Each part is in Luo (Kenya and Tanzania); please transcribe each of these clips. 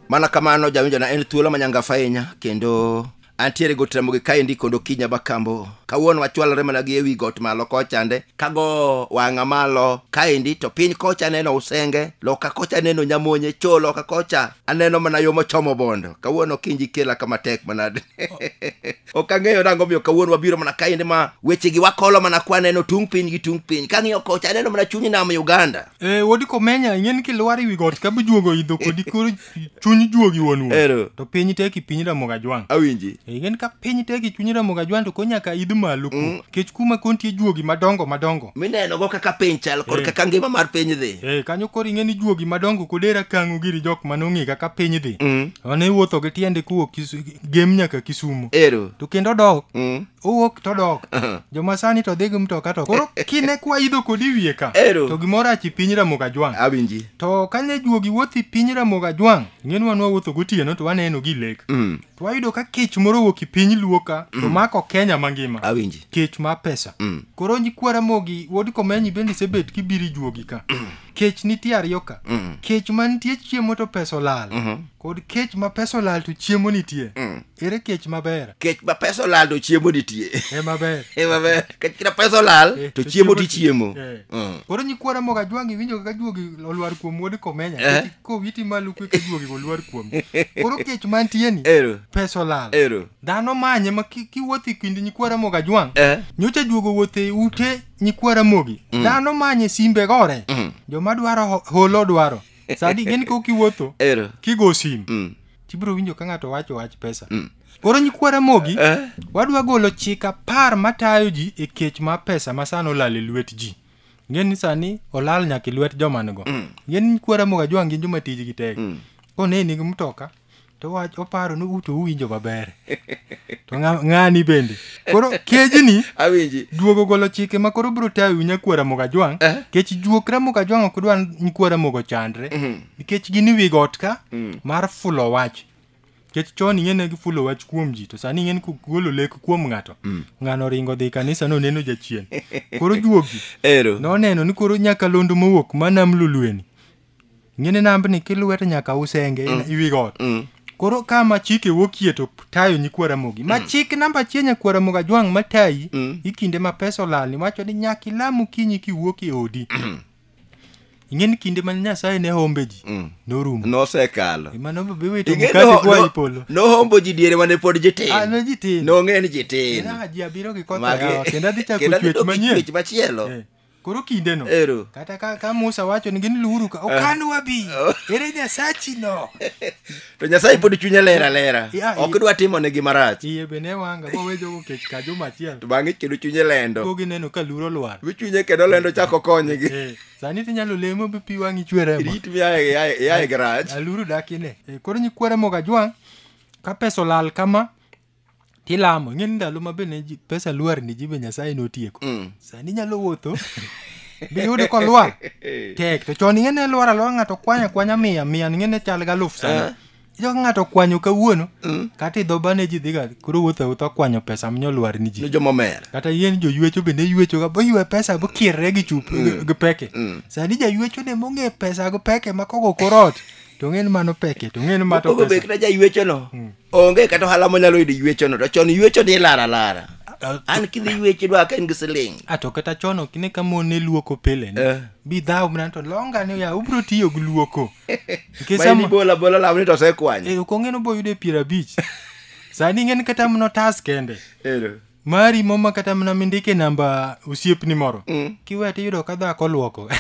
mana kamano jawinjo na en thuolo manyangafa ahinya kendo antiere got ramogi kaendi kod okinya bakambo kawuono wachwalore mana gi ewi got malo kochande kago wang'a malo kaendi to piny kocha aneno usenge loka kocha aneno nyamonye cho loka kocha aneno mana yo mochomo bondo kawuono kinji kela kama tek manade ok ang'eyo nango miyo kawuono wabiro mana kaende ma wechegi wakolo mana kwaneno tung' piny gi tung' piny kang'iyo kocha aneno mana chuny nam uganda Eh, wodi komenya ing'e ni kilwar iwi got ka bujuogo idho kodi koro chuny juogi wuon wuon Ero. to piny teki piny ramoga jwang awinji Eh, ing'e ni ka piny teki chuny ramoga jwang to ko nyaka idh malo ku kech kuma kontie juogi madongo madongo minenogo kaka piny chal kod Eh. kaka ngima mar piny dhi Eh, kanyo koro ing'e ni juogi madongo kodera kang'o giri jok manong'e kaka piny dhi Mm. ne iwuotho gi tiende kowuok Kisu- gem nyaka kisumo ero to kendo dok Mm. owuok to dok joma sani to dhi gi mtoka to koro kine kwa idho kodi wiye ka Ero. to gimoro achi piny ramogo ajwang' awinji to kane juogi wuothi piny ramogo ajwang' ing'e ni wan wawuotho gotieno to waneno gi lek Mm. to wayudo ka kech moro owuok e piny luo ka to mako kenya mangima awinji kech mar pesa Mm. koro nyikwa ramogi wuod komenyi bende isebet kibiri juogi ka kech nitie ariyo ka Mm. kech ma nitie chiemo to pesa olal Mhm. kod kech ma pesa olal to chiemo nitie Mm. ere kech maber kech ma pesa olal to chiemo nitie e maber Eh, maber kech kina pesa olal Eh, to to chiemo chiemo ti ti- chiemo eh. Mm. koro nyikwa ramoga jwangi iwinjo kaka juogi olwar kuom wuod komenya Eh. Kech kowiti malo kwe ka juogi olwar kuom koro kech mantie ni ero pesa olal ero dhano manye ma ki- kiwuotho e kind nyikwa ramoga jwang eh nyocha juogo wuotho e ute nyikwa ramogi mm. dhano manye simbe gore mm. joma dwaro holo dwaro sadi gin ko kiwuotho kigo sim mm. tibiro winjo ka ng'ato wacho wach pesa mm. koro nyikwa ramogi eh? wadwa golo chik apar matayo ji e kech ma pesa ma sano olal e lwet ji ng'e ni sani olal nyaka e lwet joman go mm. ng'e ni nyikwa ramogi ajwang' gin joma tijgi tek mm. koneni gi mtoka to wach oparo ni uto uwinjo maber to ng'a- ng'ani bende koro kejni awinji duogo golo chike ma koro biro tayo wi nyakwar Ramogi Ajwang' Eh. nikech juok Ramogi Ajwang' ok dwa nyakwar Ramogi ochandre Mhm. nikech gin e wi got ka Mm. mar fulo wach nikech chon ing'e ne gifulo wach kuom ji to sani ing'e ni kugolo lek kuom ng'ato ng'ano ringo dhi kanisa no neno jachien koro juogi ero noneno ni koro nyakalondo mowuok ma nam lulweni ng'ini nambni kilwete nyaka usenge mm. iwi got mm. koro ka ma chik e wokie to tayo nyikwa ramogi ma mm. chik namba achiel nyakwa ramogi ajwang' ma tayi mm. ikinde ma pesa olalni wacho ni nyaka ilam okinyi kiwuok e odi mm. ing'eni kinde mane nyasaye ne hombe ji mm. norumo nosekalo nohombo ji diere mane pod jitinonge ah, ni jitinmagi machielo eh. koro kindeno Ero. kata ka, ka musa wacho ni gin luuru ka okan wabi ere nyasachino to nyasaye pod chunye ler alera Ya, ok i- dwa timo negi marach iye be ne wanga bowejogo kech ka juma achiel to bang'e kendo chunye lendo go gineno ka luro lwar wi chunye kendo lendo chako konygi Eh, sani tinyalo lemo be pi wang'i chweremo rit mi ae- ae- iae garaj aluru dakine Eh, koro nyikwere moga jwang' ka pesa olal kama tilamo ing'e ni ndalo ma bende ji- pesa lwar ni ji be nyasaye notieko Mm. sani inyalo wuotho biyude kolwar tek to chon ing'e ne lwar alwar ng'ato kwanya kwanya mia mia ing'e ne chal ga aluf sana ijo ka ng'ato kwanyo kawuono kata idho bane ji dhiga koro wuotho awuotha kwanyo pesa minyo lwar ni ni ji jomomer kata yien joywecho bende ywecho ga boywe pesa bokierre gi chup gi- gi peke sani jaywecho ne mong'e pesa gi peke makogo korot to ng'e ni mano peke to ng'e ni mato ogo be pesa kata jaywechono onge kata ohala monyalo yudo yuechono to chon yuecho ni lara lara an kidhi yuecho idwa ka in gi siling a to kata chon ok ine ka mon ne luoko pile Eh. bi dhaw mana to longa ni ya ubro tiyo gi luoko nikech ma in sama ibola bola law ni to osekwanyo eh, ok ong'e ni oboyudo e piero abich sani ing'e ni kata mno tas kende Ero. mari moma kata mana mindike namba osiepni moro Mm. kiwe tiyudo ka dhako olwoko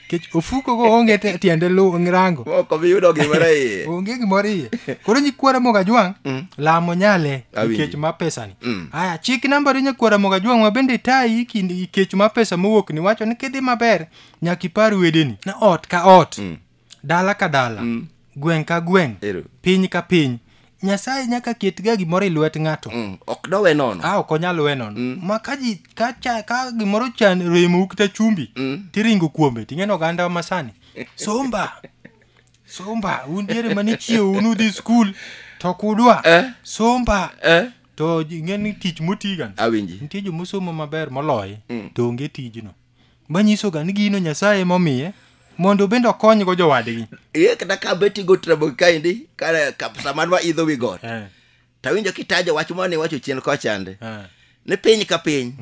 kech ofuko go onge te- tiende lu rango Ok obi yudo gimoro iye. onge gimoro iye koro nyikwara mogajwang' Mm. lamo nyale Awinji. ikech ma pesani Mm. aya chik nambari nyakwara mogajwang' ma bende tayi kind ikech ma pesa mowuok ni wacho ni kidhi maber nyaka ipar wedeni na ot ka ot Mm. dala ka dala Mm. gweng' ka gweng' Ero. piny ka piny nyasaye nyaka ketga gimoro e lwet ng'ato Mm. ok dowe nono a ok onyal we nono ma ka ji ka, cha, ka gimoro chan remou kata chumbi Mm. tiringo kuome ting'eno ogandawa masani somba somba un diere mane chiewo un udhi skul to kudwa Eh. somba eh? to ing'e ni tich motigan awinji nitie jomosomo maber moloye Mm. to onge tijno manyisoga ni gino nyasaye emomiye mondo bende okonygo jowadgi Ee, kata ka bet igo trabo kaendi kare kap- sama nwa idho wi got Eh, tawinjo kitajo wach mane iwacho chien kochande eh. ni piny ka piny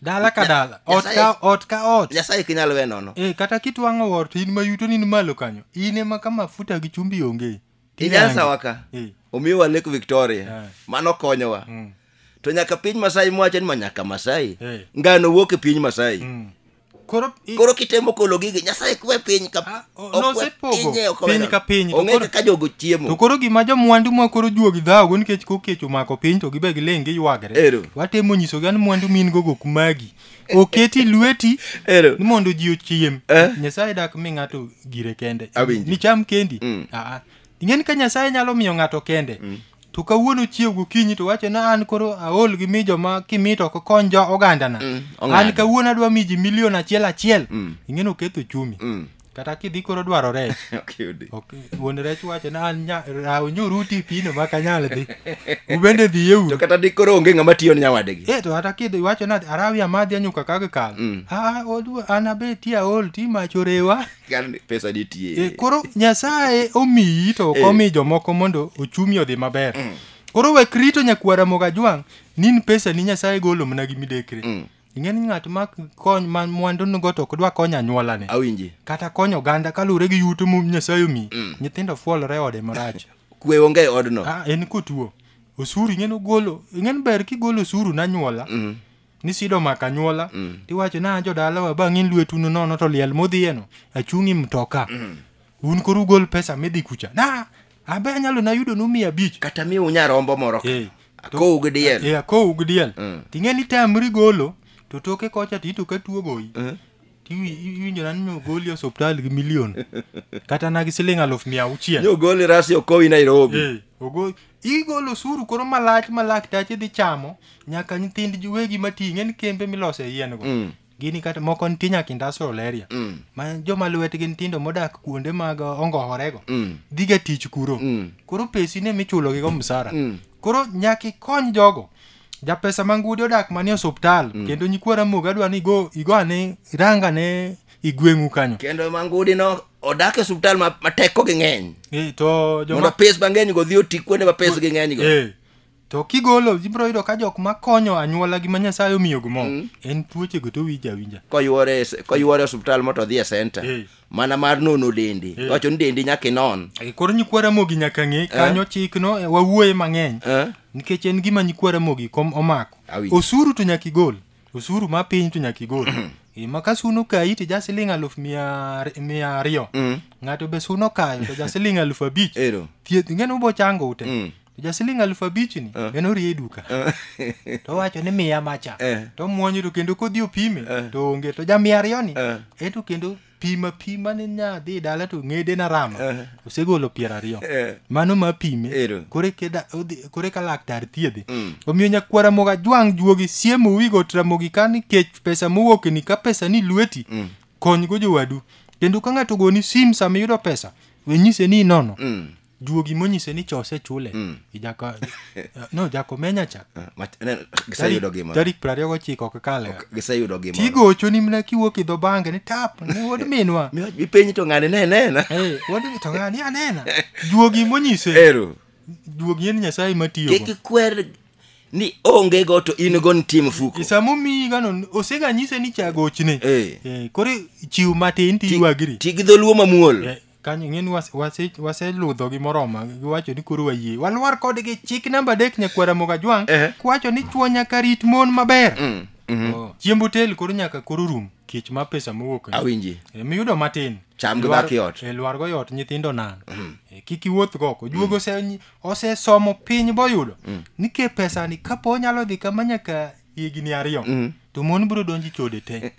dala ka Nya- dala ot Nyasaye- ka ot ka ot nyasaye ok inyal we nono Eh, kata kitwang'o ot in mayuto ni ni malo kanyo in ema ka mafuta gi chumbi onge Kenyatta wa ka Eh. omiwa Lake Victoria Eh. mano konyowa Mm. to nyaka piny Masai mwacho ni ma nyaka Masai Eh. ngano wuok e piny Masai Mm. Koro i- koro kitemo kolo gigi Nyasaye kwe piny ka Ah, o- okwe nosepogo pinye, okwe piny na- ka piny, to ong'e koro- kaka jogo chiemo to koro gima jomwandu ma koro juogi dhawogo nikech kokech omako piny to gibe giling giywagre Ero. watemo nyisogi an mwandu min gogo kumagi oketi lweti Ero. ni mondo ji ochiem Eh. nyasaye dak mi ng'ato gire kende Awinji. nicham kendi Mm. Aa. ing'e ni ka nyasaye nyalo miyo ng'ato kende to kawuono chiew gokinyi to wacho na an koro aol gi mi joma kimi to ok kony jo ogandana Mm, an ong'ado. kawuono adwa mi ji milion achiel achiel Mm. ing'e ni oketho chumi Mm. kata kidhi koro dwaro rech ok yudi ok wuon rech wacho na an nya- raw nyoruti pino ma kanyal dhi ubende dhiye to uru kata dikoro onge ng'ama tiyo ne nyawadegi e to kata kidhi wacho na arawi amadhi anyuka kaka kal Mm. a odu an abe ti aol ti mach orewa Kar ni pesa nitie e, koro nyasaye omiyi to ok Eh. omi jomoko mondo ochumi odhi maber koro wek rito nyakwara mogajwang' nin pesa ni nyasaye golo mana gi midekre Mm. ing'e ni ng'at ma kony ma mwandu nigo to ok dwa konyo anyuolane awinji kata konyo oganda kaluwore gi yuto mu nyasaye omi nyithindo fuolore ode marach kwe onge e odno ah, en kotuo osuru ing'e nogolo ing'e ni ber kigolo osuru nanyuola Mm. nisido maka anyuola Mm. tiwacho na jodalawa bang' in lwetu no nono to liel modhiyeno achung'i mtoka un koro ugol pesa midhi kucha na abe anyalo nayudonu mia abich kata miu nyarombo moro ka. Eh, to- akowu gi diel e akowu gi diel Mm. ting'e ni tamri golo to toke kocha tito ka tuo goyi Mm. tiwi- iwinjo nani ni ogoli e osuptal gi milion kata na gi siling aluf mia auchiel nyogoli rasi okowi nairobi Eh, ogo- igolo osuru koro malach ma laktache dhi chamo nyaka nyithind wegi mating'e ni kembe milose yien go Mm. Gini kata moko nitie nyaka industrial area Mm. ma joma lwetgi ntindo modak kuonde mag uh, ongohorego Mm. dhiga tich kuro Mm. koro pesi ne michulogigo msara Mm. koro nyaka ikony jogo japesa mangudi odak manie osuptal kendo nyikwa ramoga dwa ni igo igo ane iranga ne igweng'u kanyo kendo mangudi no odak e osuptal ma ma tekogi ng'eny Eh, to mondo joma pes mang'eny go dhi oti kuonde ma pesgi ng'eny go Eh, To kigolo ibiro yudo ka jok ma konyo anyuola gi ma Nyasaye omiyo gumo mm. en tuoche go to winja winja. Koyuore koyuore hospital moto dhi e center. Hey. Mana mar nono dendi. Hey. Wacho ni dendi nyaka inon. Hey, koro nyikwara mogi nyaka ng'e eh? kanyo eh? chik no eh, wawuoye mang'eny. Eh? Nikech en gima nyikwara mogi kom omako. Awi. Osuru to nyaka igol. Osuru ma piny to nyaka igol. ma ka suno kayi to ja siling aluf mia ariyo mm. ng'ato be suno kayo to ja siling aluf abich thieth ng'eno bo chango ute mm. to ja siling alufu abichni Eh. en orie e duka Eh. to owacho ni miya macha Eh. to omwonyo to kendo kodhi opime Eh. to onge to ja miya ariyoni Eh. e to kendo pima pima ni nyadhi e dala to ng'ede na rama Eh. osegolo piero ariyo Eh. mano ma pime Ero. kore keda- odhi- kore ka laktar thiedhe Mm. omiyo nyakwara moga jwang' juogi siemo wigo tramogi ka nikech pesa mowokni ka pesa ni lweti Mm. konygo jowadu kendo ka ng'ato ogoni sim sama iyudo pesa wenyise ni inono Mm. juogi monyise ni cha osechule mm. ijaka no jako menya cha ah, giseyudo gima tarik prariyo gochiko ok kale giseyudo gima tigocho ni mna kiwuok idho bange ni tap ni wod minwa mipenyi to ng'ani ne nena hey, wod to ng'ani anena juogi monyise ero juogi en nyasaye matiyo kik ikwer ni onge go to in go nitie mfuko samo mi gano osega nyise ni chagochne hey. hey, kore chiw matin tiywagiri tigidholuo mamuol hey. kanyo ing'eni waseludho gi moroma giwacho ni koro wayie walwar kodgi chik namba adek nyakwara mogajwang' Ehe. kwacho ni chwo nyaka rit mon maber Mm, mhm. Oh. chiemb otel koro nyaka koro rum kech ma pesa mowuok ni. awinji E, miyudo matin Cham gi Lwar- dhaki ot. e, lwargo yot nyithindo nan E, kik iwuoth goko juogo ose- osesomo piny boyudo ni ke pesani kapo onyalo dhi kama nyaka higni ariyo mm. to mon biro donji chode te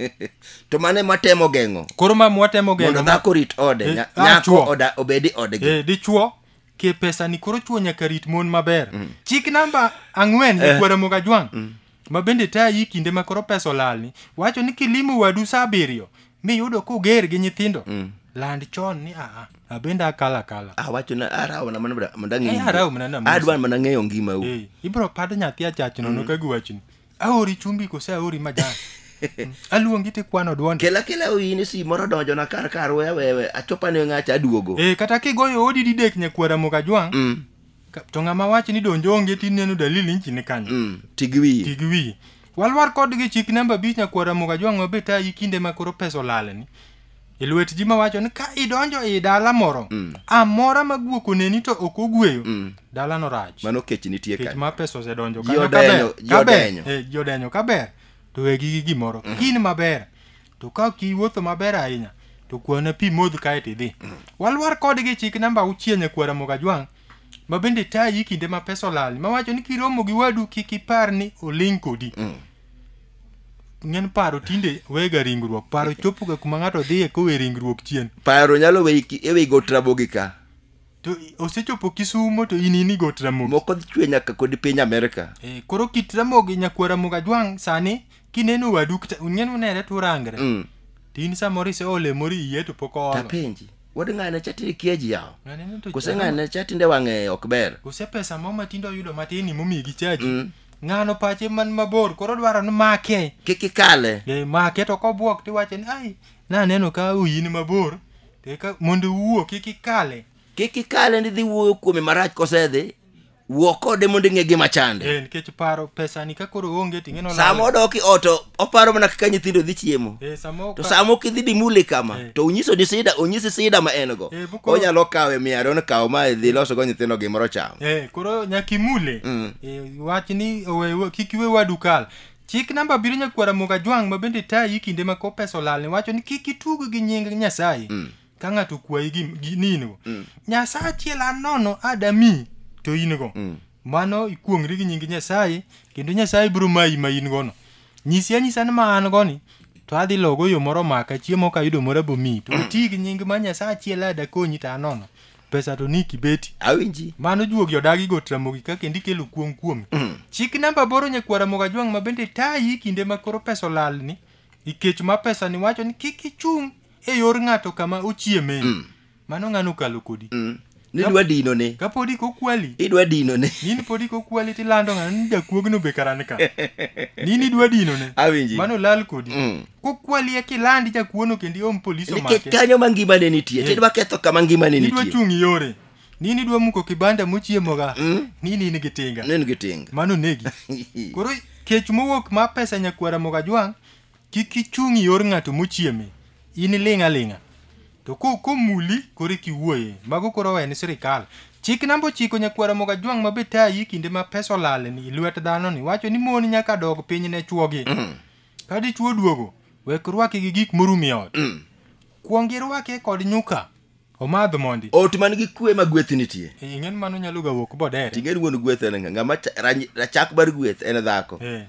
to mane matemo geng'o koro ma mwatemo geng'o mondo dhako rit ode eh, ah, nyako oda obedi odgi eh, dichuo ke pesa ni koro chuo nyaka rit mon maber mm. chik namba ang'wen eh. kwara moga jwang mm. ma bende tayi kinde ma koro pesa olalni wacho ni kilimo wadu saa abiriyo miyudo koger gi nyithindo Mm. land chon ni aa abende akala kala awacho na arawo na mana mondo ang'e Eh, ngima. arawo mana na mos. adwa mana ng'eyo ngima u Eh, ibro pad nyathi achach nono ka giwachni aori chumbi kose aori majan Mm, aluongi tikwano dwonde kela kela oyini si moro donjo na kar kar wewe achopa ne ng'acha aduogo Eh, kata kigoyo odi didek nyakwara mokajwang' Mm. Ka- to ng'ama wacho ni donjo onge ti neno dalili nchi ni kanyo Mm, ti gi wiyi ti gi wiyi walwar kodgi chik namba abich nyakwara muga jwang'o be tayi kinde ma koro pesa olalni e lwet ji mawacho ni ka idonjo e dala moro Mm. amora ma guok oneni to ok ogweyo Mm. dalano rach mano kech nitie kech kanyo ma pesa osedonjo Ji kanyo odenyo, kaber ji kaber odenyo. Eh, ji odenyo kaber to wegi gi gimoro in maber to ka ok iwuotho maber ahinya to kwana pi modh kae to idhi walwar kodgi chik namba auchiel e kwara mogajwang' ma bende tayi kinde ma pesa olal mawacho ni kiromo gi wadu kik ipar ni oling' kodi ng'en paro tinde wega ringruok paro chopoga kuma ng'ato dhiye kowe ringruok chien paro nyalo weyi ki- eweyi go trabogi ka to i- osechopo kisumo to in ini got ramogi moko dhi chwe nyaka kod piny amerika Eh, koro kit ramogi nyakuo ramogi ajwang' sani kineno wadu kata ung'en unere to urangre Mm. to in samoro ise olemori iye to pok oolo tapenji wad ng'ane chatinde kieji yawo Naneno to kose chalo- ng'ane chatinde wang'e ok ber kose pesa mo matindo oyudo matin imomiyi gi chaji Mm. ng'ano pache man mabor koro dwaro ni make kik ikale Eh, make to kobwok tiwacho ni ai naneno ka uyi ni mabor Eka mondo iwuo kik ikale. kik ikale ni dhi wuoyo kuome marach kosedhi wuo kode mondo ing'e gima chande Eh, nikech paro pesani ka koro onge to ing'eno sama lal. odok i ot o- oparo mana kaka nyithindo dhi chiemo Eh, sama to oka- sama ok idhi dimuli kama Eh. to onyiso ni sida onyisi sida ma en go Eh, bukoro- onyalo kawe miya ariyo ni kaw ma idhi loso go nyithindo gimoro cham Eh, koro nyaka imule. Mm. Eh, wach ni owe- we- kik iwe wadu kal. Chik namba abiriyo nyakwar Ramogi Ajwang' ma bende tayi kinde ma kop pesa olalni wacho ni kik itug gi nying Nyasaye ka ng'ato kwayi gi, gi ni in go. Nyasaye achiel an nono adami to in go. Mano ikuong'ri gi nying Nyasaye kendo Nyasaye biro mayi ma in gono. Nyisi anyisa ni ma an goni to adhi logo yo moro maka chiemo ka ayudo moro abomi to iti gi nying ma Nyasaye achiel ada konyi to an nono. pesa to ni kibeti awinji mano juogi odagi go tramogi ka kendo ikelo kuong kuomi chik namba boro nyakwara mogajwang' ma bende tayi kinde ma koro pesa olalni ikech ma pesa ni wacho ni kik ichung' e yor ng'ato kama ochieme mano ng'ano okalo kodi Mm. nidwa dino ne ka podi kokwali idwa dino ne nini podi kokwali tilando ng'ano ni jakuogno be karani ka nini idwa dinone awinji mano lal kodi Mm. kokwali eka ilandi jakuono kendo iom polis nikech omake kanyo ma ngima ne nitie Eh. tidwa ketho kama ngima ne idwa nitie chung' iyore nini idwa muko kibanda mochiemoga Mm. nini in gi tinga nen gi tinga mano negi koro kech mowuok ma pesa nyakwara moga jwang' kik ichung' iyor ng'ato mochieme in iling' aling'a to ko- komuli koro kiwuoye mago koro owe ni sirikal chik namba ochiko nyakwara moga jwang' ma be tayi kinde ma pesa olal ni lwet dhano ni wacho ni mon nyaka dog piny ne chwogi Ka dichwo oduogo, wek rwake gi gik morum e ot. Kuong irwake kod nyuka. Omadh mondi. Ot man gi kwe ma gweth nitie. Eh, Ing'e ni mano nyalo ga wuok bodere. Ting'e ni wuon gweth en ng'a? Ng'ama cha- ranyi- rachak mar gweth en dhako. Eh.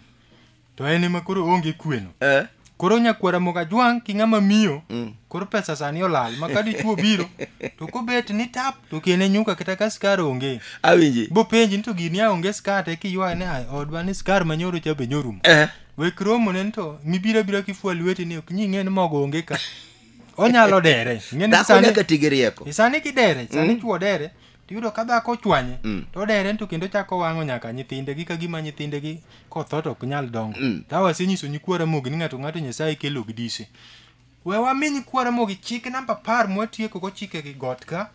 To en ema koro onge kweno. Eh? Koro nyakwara moga jwang' ki ng'ama miyo. Mm. Koro pesa sani olal. Ma ka dichwo biro, to kobet ni tap, to kene nyuka kata ka skar onge. Awinji. Bopenji ni to gini a onge skar te kiywaye ni "Ah, odwa ni skar manyoro cha be nyorumo. Eh? Wek romo ne to mibira bira kifua lweti ni ok nying'e ni mogo onge ka. Onyalo dere. Ing'e ni dhako sani nyaka ti gi rieko e sani kidere, sani chuo dere. Tiyudo ka dhako ochwanye, to dere to kendo chako wang'o nyaka nyithinde gi kagima nyithinde gi kotho to ok nyal dongo. Ka wasenyiso nyikwara mogi ni ng'ato ng'ato Nyasaye kelo gi dise. We wami nyikwara mogi chik namba apar mwatieko go chike gi got ka.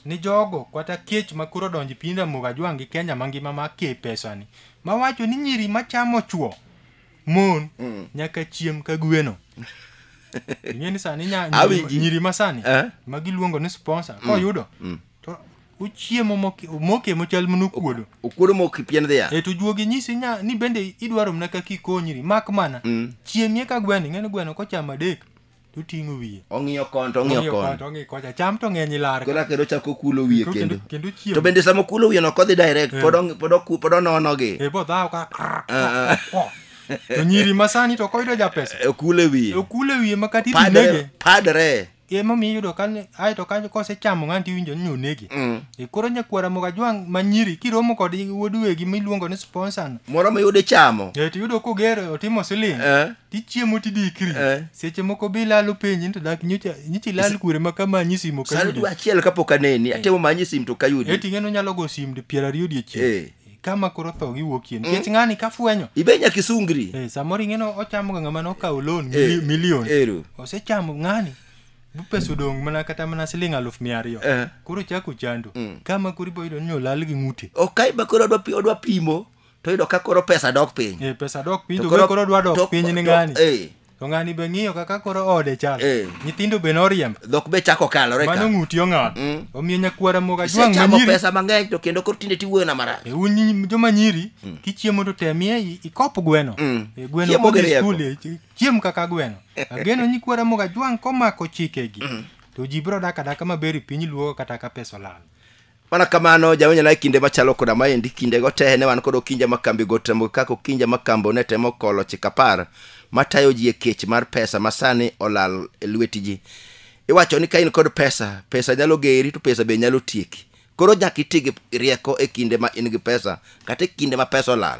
ni jogo kata kech ma koro odonjo e piny Ramogi Ajwang' gi Kenya mangima ma ke pesani mawacho ni nyiri machamo chuo mon mm. nyaka chiem ka gweno ing'e ni sani nyiri ma sani eh? ma giluongo ni sponsor mm. koyudo mm. to uchiemo moke mochal mno okuodo okuodo mok pien dhiya e to juogi nyisi nya ni bende idwaro mna kaka ikonyri mak mana mm. chiemie ka gweno ing'e ni gweno kochamo adek to oting'o wiye ong'iyo kon to ong'iyo kon to ong'iyo kocha cham to ng'eny ilar koro kendo chako kulo wiye kendo kendo chiemo to bende sama okulo wiye no kodhi direct eh. pod ong- pod oku- pod onono gi e bo dhaw ka krr, Ah, ah. ko. to nyiri masani to koyudo ja pesa Eh, okule wiye okule wiye ma kata padre itinege padre emomiyo iyudo ka ni- ae to kanyo kosechamo ng'ani tiwinjo ni onege Mm. e koro nyakwara moga jwang' ma nyiri kiromo kod wuod wegi miluongo ni sponsor moro miyude chamo e to iyudo koger otimo siling Eh. tichiemo tidikri Eh. seche moko be ilalo penji ni to dak nyocha nyicha ilal kure ma kama anyi simo sani kayudi dwe achiel kapok aneni atemo manyi sim to kayudi eti ng'eno nyalo go sim di piero ariyo Eh. odiechieng kama koro tho giwuokie nikech ng'ani kafwenyo ibe nyaka isungri Eh, samoro ing'eno ochamoga ng'ama nokawo loan Eh, mili- milion ero. osechamo ng'ani bu pesa odong' mana kata mana siling' aluf mia ariyo Eh. koro chako chando kama koro iboyudo ni olal gi ng'ute ok kaiba koro odwa pi- odwa pimo to yudo ka koro pesa dok piny Eh, pesa dok piny To to koro- koro dwa to- dok piny ni to- ng'ani eh. to ng'ani be ng'iyo kaka koro ode chal Eh. nyithindo be noriemb dhok be chako kalore mano ka ng'uti ong'aw Mm. omiyo nyakwara moga jwang' isechamo manyiri pesa mang'eny to kendo koro tinde tiwuoyona marach Eh, un nyi- joma nyiri kichiemo to temie i- ikop gweno Mm. Eh, gweno Chiemo kodhi gi rieko. skul, eh, chi- chiem kaka gweno ageno nyikwara moga jwang' komako chikegi to ji biro dak adaka maber i piny luo kata ka pesa olal mana kamano jawanyana e kinde machalo koda maendi kindego te ne wan kod okinja makambi gotembo kaka okinja makambo ne temo kolo chik apar matayo ji e kech mar pesa ma sani olal e lweti ji iwacho ni ka in kod pesa pesa nyalo geri to pesa be nyalo tieki koro nyaka iti gi rieko e kinde ma in gi pesa kata e kinde ma pesa olal